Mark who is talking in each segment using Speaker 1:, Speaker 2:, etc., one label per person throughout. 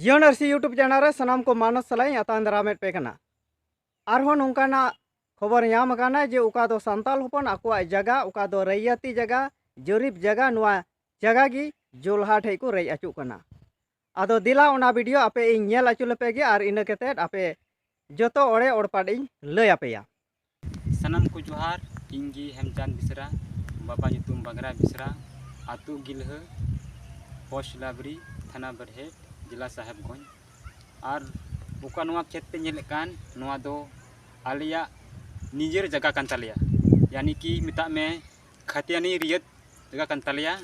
Speaker 1: ᱡᱤᱭᱚᱱ ᱟᱹᱨᱥᱤ YouTube channel ᱨᱮ ᱥᱟᱱᱟᱢ ᱠᱚ ᱢᱟᱱᱚᱛ ᱥᱟᱞᱟᱜ ᱤᱧ ᱟᱛᱟᱝ ᱫᱟᱨᱟᱢᱮᱫ ᱯᱮ ᱠᱟᱱᱟ ᱟᱨᱦᱚᱸ ᱱᱚᱝᱠᱟᱱᱟᱜ ᱠᱷᱚᱵᱚᱨ ᱧᱟᱢ ᱟᱠᱟᱱᱟ ᱡᱮ ᱚᱠᱟ ᱫᱚ ᱥᱟᱱᱛᱟᱲ ᱦᱚᱯᱚᱱ ᱟᱠᱚᱣᱟᱜ ᱡᱟᱭᱜᱟ ᱚᱠᱟ ᱫᱚ ᱨᱟᱹᱭᱟᱹᱛᱤ ᱡᱟᱭᱜᱟ ᱡᱚᱨᱤᱯ ᱡᱟᱭᱜᱟ ᱱᱚᱣᱟ ᱡᱟᱭᱜᱟ ᱜᱮ ᱡᱚᱞᱦᱟ ᱴᱷᱮᱡ ᱠᱚ ᱨᱮᱡ ᱟᱹᱪᱩᱜ ᱠᱟᱱᱟ ᱟᱫᱚ ᱫᱮᱞᱟ ᱚᱱᱟ ᱵᱷᱤᱰᱤᱭᱳ ᱟᱯᱮ ᱤᱧ ᱧᱮᱞ ᱟᱹᱪᱩ ᱞᱮᱯᱮ ᱜᱮ ᱟᱨ ᱤᱱᱟᱹ ᱠᱟᱛᱮᱫ ᱟᱯᱮ ᱡᱚᱛᱚ ᱚᱲᱮ ᱚᱲᱯᱟᱴ ᱤᱧ ᱞᱟᱹᱭ ᱟᱯᱮᱭᱟ ᱥᱟᱱᱟᱢ
Speaker 2: ᱠᱚ ᱡᱚᱦᱟᱨ ᱤᱧ ᱜᱮ ᱦᱮᱢᱪᱟᱸᱫᱽ ᱵᱮᱥᱨᱟ ᱵᱟᱵᱟ ᱧᱩᱛᱩᱢ ᱵᱟᱜᱽᱨᱟ ᱵᱮᱥᱨᱟ ᱟᱹᱛᱩ ᱜᱤᱞᱦᱟᱹ ᱯᱳᱥᱴ ᱞᱟᱵᱽᱨᱤ ᱛᱷᱟᱱᱟ ᱵᱟᱹᱨᱦᱮᱰ ᱡᱮᱞᱟ ᱥᱟᱦᱮᱵᱽᱜᱚᱸᱡᱽ ᱟᱨ ᱚᱠᱟ ᱱᱚᱣᱟ ᱠᱷᱮᱛ ᱯᱮ ᱧᱮᱞᱮᱫ ᱠᱟᱱ ᱱᱚᱣᱟ ᱫᱚ ᱟᱞᱮᱭᱟᱜ ᱱᱤᱡᱮᱨ ᱡᱟᱭᱜᱟ ᱠᱟᱱ ᱛᱟᱞᱮᱭᱟ ᱭᱟᱱᱤ ᱠᱤ ᱢᱮᱛᱟᱜ ᱢᱮ ᱠᱷᱟᱛᱤᱭᱟᱱᱤ ᱨᱮᱭᱟᱜ ᱡᱟᱭᱜᱟ ᱠᱟᱱ ᱛᱟᱞᱮᱭᱟ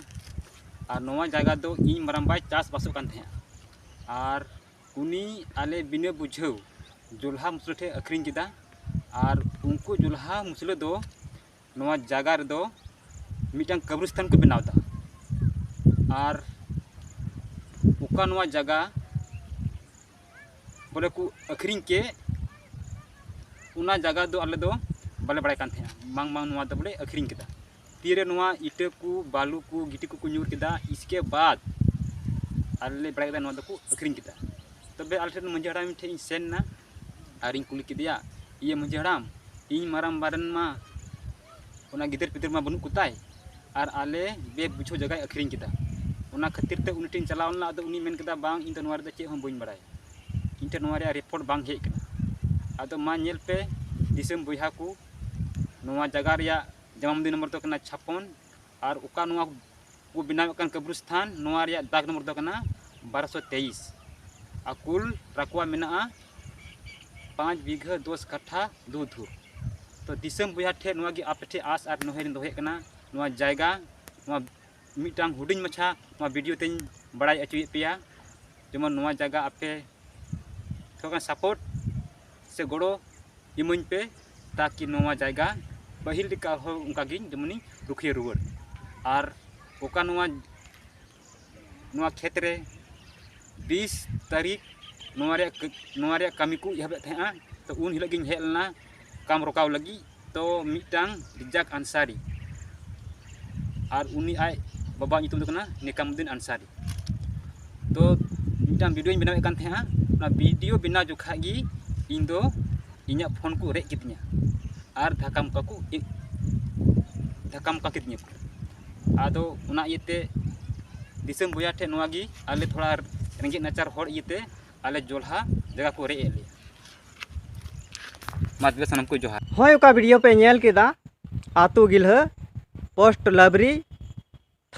Speaker 2: ᱟᱨ ᱱᱚᱣᱟ ᱡᱟᱭᱜᱟ ᱫᱚ ᱤᱧ ᱢᱟᱨᱟᱝᱵᱟᱭ ᱪᱟᱥᱵᱟᱥᱚᱜ ᱠᱟᱱ ᱛᱟᱦᱮᱸᱫᱼᱟ ᱟᱨ ᱩᱱᱤ ᱟᱞᱮ ᱵᱤᱱᱟᱹ ᱵᱩᱡᱷᱟᱹᱣ ᱡᱚᱞᱦᱟ ᱢᱩᱥᱞᱟᱹ ᱴᱷᱮᱱ ᱟᱹᱠᱷᱨᱤᱧ ᱠᱮᱫᱟ ᱟᱨ ᱩᱱᱠᱩ ᱡᱚᱞᱦᱟ ᱢᱩᱥᱞᱟᱹ ᱫᱚ ᱱᱚᱣᱟ ᱡᱟᱭᱜᱟ ᱨᱮᱫᱚ ᱢᱤᱫᱴᱟᱝ ᱠᱟᱵᱨᱤᱥᱛᱟᱱ ᱠᱚ ᱵᱮᱱᱟᱣᱫᱟ ᱟᱨ ᱚᱠᱟ ᱱᱚᱣᱟ ᱡᱟᱭᱜᱟ ᱵᱚᱞᱮ ᱠᱚ ᱟᱹᱠᱷᱨᱤᱧ ᱠᱮᱫ ᱚᱱᱟ ᱡᱟᱭᱜᱟ ᱫᱚ ᱟᱞᱮ ᱫᱚ ᱵᱟᱞᱮ ᱵᱟᱲᱟᱭ ᱠᱟᱱ ᱛᱟᱦᱮᱱᱟ ᱵᱟᱝᱢᱟ ᱱᱚᱣᱟ ᱫᱚ ᱵᱚᱞᱮ ᱟᱹᱠᱷᱨᱤᱧ ᱠᱮᱫᱟ ᱛᱤᱨᱮ ᱱᱚᱣᱟ ᱤᱴᱟᱹ ᱠᱚ ᱵᱟᱞᱩ ᱠᱚ ᱜᱤᱴᱤ ᱠᱚᱠᱚ ᱧᱩᱨ ᱠᱮᱫᱟ ᱤᱥᱠᱮ ᱵᱟᱫ ᱟᱞᱮ ᱞᱮ ᱵᱟᱲᱟᱭ ᱠᱮᱫᱟ ᱱᱚᱣᱟ ᱫᱚᱠᱚ ᱟᱹᱠᱷᱨᱤᱧ ᱠᱮᱫᱟ ᱛᱚᱵᱮ ᱟᱞᱮ ᱴᱷᱮᱱ ᱢᱟᱺᱡᱷᱤ ᱦᱟᱲᱟᱢ ᱴᱷᱮᱱ ᱤᱧ ᱥᱮᱱ ᱮᱱᱟ ᱟᱨᱤᱧ ᱠᱩᱞᱤ ᱠᱮᱫᱮᱭᱟ ᱤᱭᱟᱹ ᱢᱟᱺᱡᱷᱤ ᱦᱟᱲᱟᱢ ᱤᱧ ᱢᱟᱨᱟᱝᱵᱟ ᱨᱮᱱ ᱢᱟ ᱚᱱᱟ ᱜᱤᱫᱟᱹᱨ ᱯᱤᱫᱟᱹᱨ ᱢᱟ ᱵᱟᱹᱱᱩᱜ ᱠᱚᱛᱟᱭ ᱟᱨ ᱟᱞᱮ ᱵᱮ ᱵᱩᱡᱷᱟᱹᱣ ᱡᱟᱭᱜᱟᱭ ᱟᱹᱠᱷᱨᱤᱧ ᱠᱮᱫᱟ ᱚᱱᱟ ᱠᱷᱟᱹᱛᱤᱨ ᱛᱮ ᱩᱱᱤ ᱴᱷᱮᱱ ᱤᱧ ᱪᱟᱞᱟᱣ ᱞᱮᱱᱟ ᱟᱫᱚ ᱩᱱᱤᱭ ᱢᱮᱱ ᱠᱮᱫᱟ ᱵᱟᱝ ᱤᱧ ᱫᱚ ᱱᱚᱣᱟ ᱨᱮᱫᱚ ᱪᱮᱫ ᱦᱚᱸ ᱵᱟᱹᱧ ᱵᱟᱲᱟᱭᱟ ᱤᱧ ᱴᱷᱮᱱ ᱱᱚᱣᱟ ᱨᱮᱭᱟᱜ ᱨᱤᱯᱳᱨᱴ ᱵᱟᱝ ᱦᱮᱡ ᱟᱠᱟᱱᱟ ᱟᱫᱚ ᱢᱟ ᱧᱮᱞ ᱯᱮ ᱫᱤᱥᱚᱢ ᱵᱚᱭᱦᱟ ᱠᱚ ᱱᱚᱣᱟ ᱡᱟᱭᱜᱟ ᱨᱮᱭᱟᱜ ᱡᱟᱢᱟᱢ ᱫᱤ ᱱᱚᱢᱵᱚᱨ ᱫᱚ ᱠᱟᱱᱟ ᱪᱷᱟᱯᱚᱱ ᱟᱨ ᱚᱠᱟ ᱱᱚᱣᱟ ᱠᱚ ᱵᱮᱱᱟᱣᱮᱫ ᱠᱟᱱ ᱠᱟᱵᱨᱤᱥᱛᱷᱟᱱ ᱱᱚᱣᱟ ᱨᱮᱭᱟᱜ ᱫᱟᱜᱽ ᱱᱚᱢᱵᱚᱨ ᱫᱚ ᱠᱟᱱᱟ ᱵᱟᱨᱚᱥᱚ ᱛᱮᱭᱤᱥ ᱟᱨ ᱠᱩᱞ ᱨᱟᱠᱣᱟ ᱢᱮᱱᱟᱜᱼᱟ ᱯᱟᱸᱪ ᱵᱤᱜᱷᱟᱹ ᱫᱚᱥ ᱠᱟᱴᱷᱟ ᱫᱩ ᱫᱷᱩᱯ ᱛᱚ ᱫᱤᱥᱚᱢ ᱵᱚᱭᱦᱟ ᱴᱷᱮᱱ ᱱᱚᱣᱟᱜᱮ ᱟᱯᱮ ᱴᱷᱮᱱ ᱟᱥ ᱟᱨ ᱱᱮᱦᱚᱨᱤᱧ ᱫᱚᱦᱚᱭᱮᱫ ᱠᱟᱱᱟ ᱱᱚᱣᱟ ᱡᱟᱭᱜᱟ ᱱᱚᱣᱟ ᱢᱤᱫᱴᱟᱝ ᱦᱩᱰᱤᱧ ᱢᱟᱪᱷᱟ ᱱᱚᱣᱟ ᱵᱷᱤᱰᱤᱭᱳ ᱛᱮᱧ ᱵᱟᱲᱟᱭ ᱦᱚᱪᱚᱭᱮᱫ ᱯᱮᱭᱟ ᱡᱮᱢᱚᱱ ᱱᱚᱣᱟ ᱡᱟᱭᱜᱟ ᱟᱯᱮ ᱛᱷᱚᱲᱟ ᱥᱟᱯᱳᱨᱴ ᱥᱮ ᱜᱚᱲᱚ ᱤᱢᱟᱹᱧ ᱯᱮ ᱛᱟᱠᱤ ᱱᱚᱣᱟ ᱡᱟᱭᱜᱟ ᱯᱟᱹᱦᱤᱞ ᱞᱮᱠᱟ ᱟᱨᱦᱚᱸ ᱚᱱᱠᱟ ᱜᱮ ᱡᱮᱢᱚᱱᱤᱧ ᱨᱩᱠᱷᱤᱭᱟᱹ ᱨᱩᱣᱟᱹᱲ ᱟᱨ ᱚᱠᱟ ᱱᱚᱣᱟ ᱱᱚᱣᱟ ᱠᱷᱮᱛ ᱨᱮ ᱵᱤᱥ ᱛᱟᱹᱨᱤᱠᱷ ᱱᱚᱣᱟ ᱨᱮᱭᱟᱜ ᱱᱚᱣᱟ ᱨᱮᱭᱟᱜ ᱠᱟᱹᱢᱤ ᱠᱚ ᱮᱦᱚᱵᱮᱫ ᱛᱟᱦᱮᱸᱫᱼᱟ ᱛᱚ ᱩᱱ ᱦᱤᱞᱳᱜ ᱜᱤᱧ ᱦᱮᱡ ᱞᱮᱱᱟ ᱠᱟᱢ ᱨᱚᱠᱟᱣ ᱞᱟᱹᱜᱤᱫ ᱫᱚ ᱢᱤᱫᱴᱟᱝ ᱨᱤᱡᱟᱠ ᱟᱱᱥᱟᱨᱤ ᱟᱨ ᱩᱱᱤ ᱟᱡ ᱵᱟᱵᱟ ᱧᱩᱛᱩᱢ ᱫᱚ ᱠᱟᱱᱟ ᱱᱮᱠᱟᱢᱩᱫᱤᱱ ᱟᱱᱥᱟᱨᱤ ᱛᱚ ᱢᱤᱫᱴᱟᱝ ᱵᱷᱤᱰᱤᱭᱳᱧ ᱵᱮᱱᱟᱣᱮᱫ ᱠᱟᱱ ᱛᱟᱦᱮᱸᱜᱼᱟ ᱚᱱᱟ ᱵᱷᱤᱰᱤᱭᱳ ᱵᱮᱱᱟᱣ ᱡᱚᱠᱷᱟᱡ ᱜᱮ ᱤᱧ ᱫᱚ ᱤᱧᱟᱹᱜ ᱯᱷᱳᱱ ᱠᱚ ᱨᱮᱡ ᱠᱤᱫᱤᱧᱟ ᱟᱨ ᱫᱷᱟᱠᱟ ᱢᱚᱠᱟ ᱠᱚ ᱫᱷᱟᱠᱟ ᱢᱚᱠᱟ ᱠᱤᱫᱤᱧᱟ ᱠᱚ ᱟᱫᱚ ᱚᱱᱟ ᱤᱭᱟᱹᱛᱮ ᱫᱤᱥᱚᱢ ᱵᱚᱭᱦᱟ ᱴᱷᱮᱡ ᱱᱚᱣᱟ ᱜᱮ ᱟᱞᱮ ᱛᱷᱚᱲᱟ ᱨᱮᱸᱜᱮᱡ ᱱᱟᱪᱟᱨ ᱦᱚᱲ ᱤᱭᱟᱹᱛᱮ ᱟᱞᱮ ᱡᱚᱞᱦᱟ ᱡᱟᱭᱜᱟ ᱠᱚ ᱨᱮᱡ ᱮᱫ ᱞᱮᱭᱟ ᱢᱟ ᱛᱚᱵᱮ ᱥᱟᱱᱟᱢ ᱠᱚ ᱡᱚᱦᱟᱨ ᱦᱳᱭ ᱚᱠᱟ ᱵᱷᱤᱰᱤᱭᱳ ᱯᱮ ᱧᱮᱞ
Speaker 1: ᱠᱮᱫᱟ ᱟᱛᱳ ᱜᱤᱞᱦᱟᱹ ᱯᱳᱥᱴ ᱞᱟᱵᱽᱨᱤ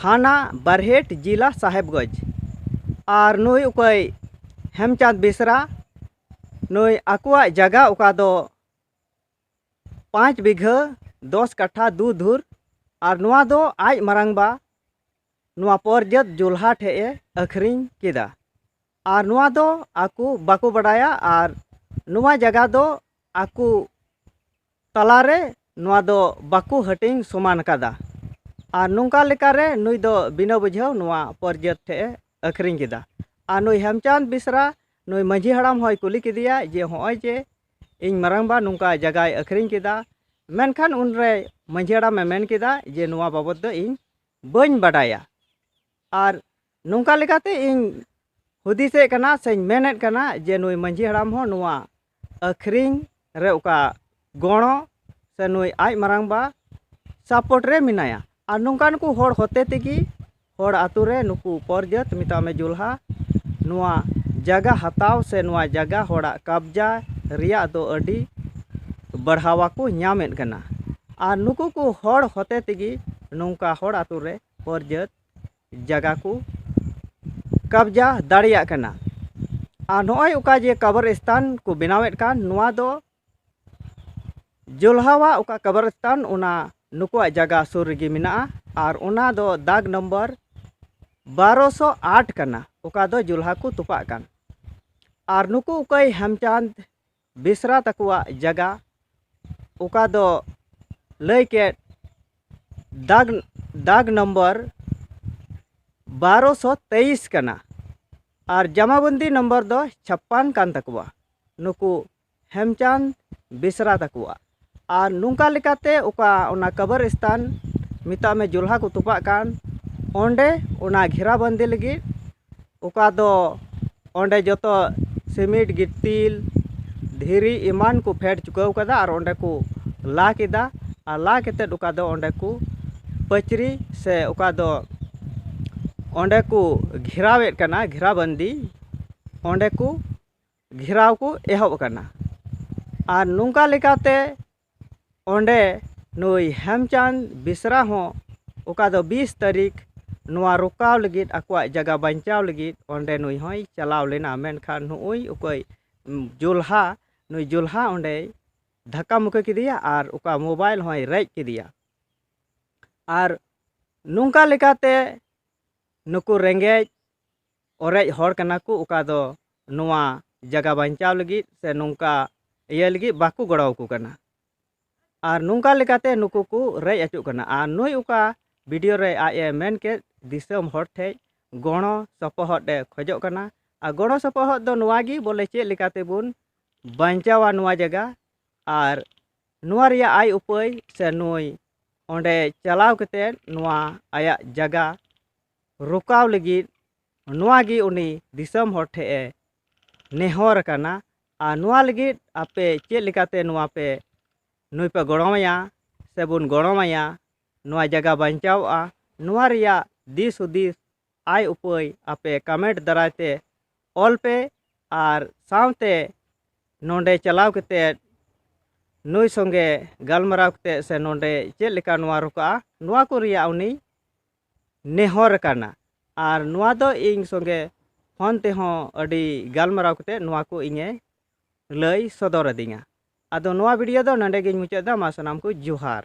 Speaker 1: ᱛᱷᱟᱱᱟ ᱵᱟᱨᱦᱮᱴ ᱡᱤᱞᱟ ᱥᱟᱦᱮᱵᱽᱜᱚᱸᱡᱽ ᱟᱨ ᱱᱩᱭ ᱚᱠᱚᱭ ᱦᱮᱢᱪᱟᱸᱫᱽ ᱵᱮᱥᱨᱟ ᱱᱩᱭ ᱟᱠᱚᱣᱟᱜ ᱡᱟᱭᱜᱟ ᱚᱠᱟ ᱫᱚ ᱯᱟᱸᱪ ᱵᱤᱜᱷᱟᱹ ᱫᱚᱥ ᱠᱟᱴᱷᱟ ᱫᱩ ᱫᱷᱩᱨ ᱟᱨ ᱱᱚᱣᱟ ᱫᱚ ᱟᱡ ᱢᱟᱨᱟᱝᱵᱟ ᱱᱚᱣᱟ ᱯᱚᱨᱡᱟᱹᱛ ᱡᱚᱞᱦᱟ ᱴᱷᱮᱱ ᱮ ᱟᱹᱠᱷᱨᱤᱧ ᱠᱮᱫᱟ ᱟᱨ ᱱᱚᱣᱟ ᱫᱚ ᱟᱠᱚ ᱵᱟᱠᱚ ᱵᱟᱰᱟᱭᱟ ᱟᱨ ᱱᱚᱣᱟ ᱡᱟᱭᱜᱟ ᱫᱚ ᱟᱠᱚ ᱛᱟᱞᱟ ᱨᱮ ᱱᱚᱣᱟ ᱫᱚ ᱵᱟᱠᱚ ᱦᱟᱹᱴᱤᱧ ᱥᱚᱢᱟᱱ ᱟᱠᱟᱫᱟ ᱟᱨ ᱱᱚᱝᱠᱟ ᱞᱮᱠᱟ ᱨᱮ ᱱᱩᱭ ᱫᱚ ᱵᱤᱱᱟᱹ ᱵᱩᱡᱷᱟᱹᱣ ᱱᱚᱣᱟ ᱯᱚᱨᱡᱟᱹᱛ ᱴᱷᱮᱱ ᱮ ᱟᱹᱠᱷᱨᱤᱧ ᱠᱮᱫᱟ ᱟᱨ ᱱᱩᱭ ᱦᱮᱢᱪᱟᱸᱫᱽ ᱵᱮᱥᱨᱟ ᱱᱩᱭ ᱢᱟᱺᱡᱷᱤ ᱦᱟᱲᱟᱢ ᱦᱚᱸᱭ ᱠᱩᱞᱤ ᱠᱮᱫᱮᱭᱟ ᱡᱮ ᱱᱚᱜᱼᱚᱭ ᱡᱮ ᱤᱧ ᱢᱟᱨᱟᱝ ᱵᱟ ᱱᱚᱝᱠᱟ ᱡᱟᱭᱜᱟᱭ ᱟᱹᱠᱷᱨᱤᱧ ᱠᱮᱫᱟ ᱢᱮᱱᱠᱷᱟᱱ ᱩᱱᱨᱮ ᱢᱟᱺᱡᱷᱤ ᱦᱟᱲᱟᱢᱮ ᱢᱮᱱ ᱠᱮᱫᱟ ᱡᱮ ᱱᱚᱣᱟ ᱵᱟᱵᱚᱫ ᱫᱚ ᱤᱧ ᱵᱟᱹᱧ ᱵᱟᱰᱟᱭᱟ ᱟᱨ ᱱᱚᱝᱠᱟ ᱞᱮᱠᱟᱛᱮ ᱤᱧ ᱦᱩᱫᱤᱥᱮᱫ ᱠᱟᱱᱟ ᱥᱮᱧ ᱢᱮᱱᱮᱫ ᱠᱟᱱᱟ ᱡᱮ ᱱᱩᱭ ᱢᱟᱺᱡᱷᱤ ᱦᱟᱲᱟᱢ ᱦᱚᱸ ᱱᱚᱣᱟ ᱟᱹᱠᱷᱨᱤᱧ ᱨᱮ ᱚᱠᱟ ᱜᱚᱲᱚ ᱥᱮ ᱱᱩᱭ ᱟᱡ ᱢᱟᱨᱟᱝ ᱵᱟ ᱥᱟᱯᱳᱨᱴ ᱨᱮ ᱢᱮᱱᱟᱭᱟ ᱟᱨ ᱱᱚᱝᱠᱟᱱ ᱠᱚ ᱦᱚᱲ ᱦᱚᱛᱮ ᱛᱮᱜᱮ ᱦᱚᱲ ᱟᱹᱛᱩ ᱨᱮ ᱱᱩᱠᱩ ᱩᱯᱚᱨ ᱡᱟᱹᱛ ᱢᱮᱛᱟᱜ ᱢᱮ ᱡᱩᱞᱦᱟ ᱱᱚᱣᱟ ᱡᱟᱭᱜᱟ ᱦᱟᱛᱟᱣ ᱥᱮ ᱱᱚᱣᱟ ᱡᱟᱭᱜᱟ ᱦᱚᱲᱟᱜ ᱠᱟᱵᱽᱡᱟ ᱨᱮᱭᱟᱜ ᱫᱚ ᱟᱹᱰᱤ ᱵᱟᱲᱦᱟᱣᱟ ᱠᱚ ᱧᱟᱢᱮᱫ ᱠᱟᱱᱟ ᱟᱨ ᱱᱩᱠᱩ ᱠᱚ ᱦᱚᱲ ᱦᱚᱛᱮ ᱛᱮᱜᱮ ᱱᱚᱝᱠᱟ ᱦᱚᱲ ᱟᱹᱛᱩ ᱨᱮ ᱩᱯᱚᱨ ᱡᱟᱹᱛ ᱡᱟᱭᱜᱟ ᱠᱚ ᱠᱟᱵᱽᱡᱟ ᱫᱟᱲᱮᱭᱟᱜ ᱠᱟᱱᱟ ᱟᱨ ᱱᱚᱜᱼᱚᱸᱭ ᱚᱠᱟ ᱡᱮ ᱠᱟᱵᱟᱨᱤᱥᱛᱟᱱ ᱠᱚ ᱵᱮᱱᱟᱣᱮᱫ ᱠᱟᱱ ᱱᱚᱣᱟ ᱫᱚ ᱡᱚᱞᱦᱟᱣᱟᱜ ᱚᱠᱟ ᱠᱟᱵᱟᱨᱤᱥᱛᱟᱱ ᱚᱱᱟ ᱱᱩᱠᱩᱣᱟᱜ ᱡᱟᱭᱜᱟ ᱥᱩᱨ ᱨᱮᱜᱮ ᱢᱮᱱᱟᱜᱼᱟ ᱟᱨ ᱚᱱᱟ ᱫᱚ ᱫᱟᱜᱽ ᱱᱚᱢᱵᱚᱨ ᱵᱟᱨᱚ ᱥᱚ ᱟᱴ ᱠᱟᱱᱟ ᱚᱠᱟ ᱫᱚ ᱡᱚᱞᱦᱟ ᱠᱚ ᱛᱚᱯᱟᱜ ᱠᱟᱱ ᱟᱨ ᱱᱩᱠᱩ ᱚᱠᱚᱭ ᱦᱮᱢᱪᱟᱸᱫᱽ ᱵᱮᱥᱨᱟ ᱛᱟᱠᱚᱣᱟᱜ ᱡᱟᱭᱜᱟ ᱚᱠᱟ ᱫᱚ ᱞᱟᱹᱭ ᱠᱮᱫ ᱫᱟᱜᱽ ᱫᱟᱜᱽ ᱱᱚᱢᱵᱚᱨ ᱵᱟᱨᱚ ᱥᱚ ᱛᱮᱭᱤᱥ ᱠᱟᱱᱟ ᱟᱨ ᱡᱟᱢᱟᱵᱚᱱᱫᱤ ᱱᱚᱢᱵᱚᱨ ᱫᱚ ᱪᱷᱟᱯᱯᱟᱱ ᱠᱟᱱ ᱛᱟᱠᱚᱣᱟ ᱱᱩᱠᱩ ᱦᱮᱢᱪᱟᱸᱫᱽ ᱵᱮᱥᱨᱟ ᱛᱟᱠᱚᱣᱟᱜ ᱟᱨ ᱱᱚᱝᱠᱟ ᱞᱮᱠᱟᱛᱮ ᱚᱠᱟ ᱚᱱᱟ ᱠᱟᱵᱟᱨ ᱥᱛᱷᱟᱱ ᱢᱮᱛᱟᱜ ᱢᱮ ᱡᱚᱞᱦᱟ ᱠᱚ ᱛᱚᱯᱟᱜ ᱠᱟᱱ ᱚᱸᱰᱮ ᱚᱱᱟ ᱜᱷᱮᱨᱟ ᱵᱟᱹᱱᱫᱤ ᱞᱟᱹᱜᱤᱫ ᱚᱠᱟ ᱫᱚ ᱚᱸᱰᱮ ᱡᱚᱛᱚ ᱥᱤᱢᱤᱴ ᱜᱤᱛᱤᱞ ᱫᱷᱤᱨᱤ ᱮᱢᱟᱱ ᱠᱚ ᱯᱷᱮᱰ ᱪᱩᱠᱟᱹᱣ ᱠᱟᱫᱟ ᱟᱨ ᱚᱸᱰᱮ ᱠᱚ ᱞᱟ ᱠᱮᱫᱟ ᱟᱨ ᱞᱟ ᱠᱟᱛᱮᱫ ᱚᱠᱟ ᱫᱚ ᱚᱸᱰᱮ ᱠᱚ ᱯᱟᱹᱪᱨᱤ ᱥᱮ ᱚᱠᱟ ᱫᱚ ᱚᱸᱰᱮ ᱠᱚ ᱜᱷᱮᱨᱟᱣᱮᱫ ᱠᱟᱱᱟ ᱜᱷᱮᱨᱟ ᱵᱟᱹᱱᱫᱤ ᱚᱸᱰᱮ ᱠᱚ ᱜᱷᱮᱨᱟᱣ ᱠᱚ ᱮᱦᱚᱵ ᱟᱠᱟᱱᱟ ᱟᱨ ᱱᱚᱝᱠᱟ ᱞᱮᱠᱟᱛᱮ ᱚᱸᱰᱮ ᱱᱩᱭ ᱦᱮᱢᱪᱟᱸᱫᱽ ᱵᱮᱥᱨᱟ ᱦᱚᱸ ᱚᱠᱟ ᱫᱚ ᱵᱤᱥ ᱛᱟᱹᱨᱤᱠᱷ ᱱᱚᱣᱟ ᱨᱚᱠᱟᱣ ᱞᱟᱹᱜᱤᱫ ᱟᱠᱚᱣᱟᱜ ᱡᱟᱭᱜᱟ ᱵᱟᱧᱪᱟᱣ ᱞᱟᱹᱜᱤᱫ ᱚᱸᱰᱮ ᱱᱩᱭ ᱦᱚᱸᱭ ᱪᱟᱞᱟᱣ ᱞᱮᱱᱟ ᱢᱮᱱᱠᱷᱟᱱ ᱱᱩᱜᱼᱩᱭ ᱚᱠᱚᱭ ᱡᱚᱞᱦᱟ ᱱᱩᱭ ᱡᱚᱞᱦᱟ ᱚᱸᱰᱮᱭ ᱫᱷᱟᱠᱠᱟ ᱢᱩᱠᱠᱤ ᱠᱮᱫᱮᱭᱟ ᱟᱨ ᱚᱠᱟ ᱢᱳᱵᱟᱭᱤᱞ ᱦᱚᱸᱭ ᱨᱮᱡ ᱠᱮᱫᱮᱭᱟ ᱟᱨ ᱱᱚᱝᱠᱟ ᱞᱮᱠᱟᱛᱮ ᱱᱩᱠᱩ ᱨᱮᱸᱜᱮᱡ ᱚᱨᱮᱡ ᱦᱚᱲ ᱠᱟᱱᱟ ᱠᱚ ᱚᱠᱟ ᱫᱚ ᱱᱚᱣᱟ ᱡᱟᱭᱜᱟ ᱵᱟᱧᱪᱟᱣ ᱞᱟᱹᱜᱤᱫ ᱥᱮ ᱱᱚᱝᱠᱟ ᱤᱭᱟᱹ ᱞᱟᱹᱜᱤᱫ ᱵᱟᱠᱚ ᱜᱚᱲᱚ ᱟᱠᱚ ᱠᱟᱱᱟ ᱟᱨ ᱱᱚᱝᱠᱟ ᱞᱮᱠᱟᱛᱮ ᱱᱩᱠᱩ ᱠᱚ ᱨᱮᱡ ᱦᱚᱪᱚᱜ ᱠᱟᱱᱟ ᱟᱨ ᱱᱩᱭ ᱚᱠᱟ ᱵᱷᱤᱰᱤᱭᱳ ᱨᱮ ᱟᱡ ᱮ ᱢᱮᱱ ᱠᱮᱫ ᱫᱤᱥᱚᱢ ᱦᱚᱲ ᱴᱷᱮᱡ ᱜᱚᱲᱚ ᱥᱚᱯᱚᱦᱚᱫ ᱮ ᱠᱷᱚᱡᱚᱜ ᱠᱟᱱᱟ ᱟᱨ ᱜᱚᱲᱚ ᱥᱚᱯᱚᱦᱚᱫ ᱫᱚ ᱱᱚᱣᱟ ᱜᱮ ᱵᱚᱞᱮ ᱪᱮᱫ ᱞᱮᱠᱟ ᱛᱮᱵᱚᱱ ᱵᱟᱧᱪᱟᱣᱟ ᱱᱚᱣᱟ ᱡᱟᱭᱜᱟ ᱟᱨ ᱱᱚᱣᱟ ᱨᱮᱭᱟᱜ ᱟᱭ ᱩᱯᱟᱹᱭ ᱥᱮ ᱱᱩᱭ ᱚᱸᱰᱮ ᱪᱟᱞᱟᱣ ᱠᱟᱛᱮᱫ ᱱᱚᱣᱟ ᱟᱭᱟᱜ ᱡᱟᱭᱜᱟ ᱨᱚᱠᱟᱣ ᱞᱟᱹᱜᱤᱫ ᱱᱚᱣᱟ ᱜᱮ ᱩᱱᱤ ᱫᱤᱥᱚᱢ ᱦᱚᱲ ᱴᱷᱮᱱ ᱮ ᱱᱮᱦᱚᱨ ᱟᱠᱟᱱᱟ ᱟᱨ ᱱᱚᱣᱟ ᱞᱟᱹᱜᱤᱫ ᱟᱯᱮ ᱪᱮᱫ ᱞᱮᱠᱟᱛᱮ ᱱᱚᱣᱟ ᱯᱮ ᱱᱩᱭ ᱯᱮ ᱜᱚᱲᱚ ᱟᱭᱟ ᱥᱮ ᱵᱚᱱ ᱜᱚᱲᱚ ᱟᱭᱟ ᱱᱚᱣᱟ ᱡᱟᱭᱜᱟ ᱵᱟᱧᱪᱟᱣᱜᱼᱟ ᱱᱚᱣᱟ ᱨᱮᱭᱟᱜ ᱫᱤᱥ ᱦᱩᱫᱤᱥ ᱟᱭ ᱩᱯᱟᱹᱭ ᱟᱯᱮ ᱠᱟᱢᱮᱱᱴ ᱫᱟᱨᱟᱭ ᱛᱮ ᱚᱞ ᱯᱮ ᱟᱨ ᱥᱟᱶᱛᱮ ᱱᱚᱰᱮ ᱪᱟᱞᱟᱣ ᱠᱟᱛᱮᱫ ᱱᱩᱭ ᱥᱚᱸᱜᱮ ᱜᱟᱞᱢᱟᱨᱟᱣ ᱠᱟᱛᱮᱫ ᱥᱮ ᱱᱚᱰᱮ ᱪᱮᱫ ᱞᱮᱠᱟ ᱱᱚᱣᱟ ᱨᱚᱠᱟᱜᱼᱟ ᱱᱚᱣᱟ ᱠᱚ ᱨᱮᱭᱟᱜ ᱩᱱᱤ ᱱᱮᱦᱚᱨ ᱟᱠᱟᱱᱟ ᱟᱨ ᱱᱚᱣᱟ ᱫᱚ ᱤᱧ ᱥᱚᱸᱜᱮ ᱯᱷᱳᱱ ᱛᱮᱦᱚᱸ ᱟᱹᱰᱤ ᱜᱟᱞᱢᱟᱨᱟᱣ ᱠᱟᱛᱮ ᱱᱚᱣᱟ ᱠᱚ ᱤᱧᱮ ᱞᱟᱹᱭ ᱥᱚᱫᱚᱨ ᱟᱹᱫᱤᱧᱟ ᱟᱫᱚ ᱱᱚᱣᱟ ᱵᱷᱤᱰᱤᱭᱳ ᱫᱚ ᱱᱚᱰᱮ ᱜᱮᱧ ᱢᱩᱪᱟᱹᱫ ᱮᱫᱟ ᱢᱟ ᱥᱟᱱᱟᱢ ᱠᱚ ᱡᱚᱦᱟᱨ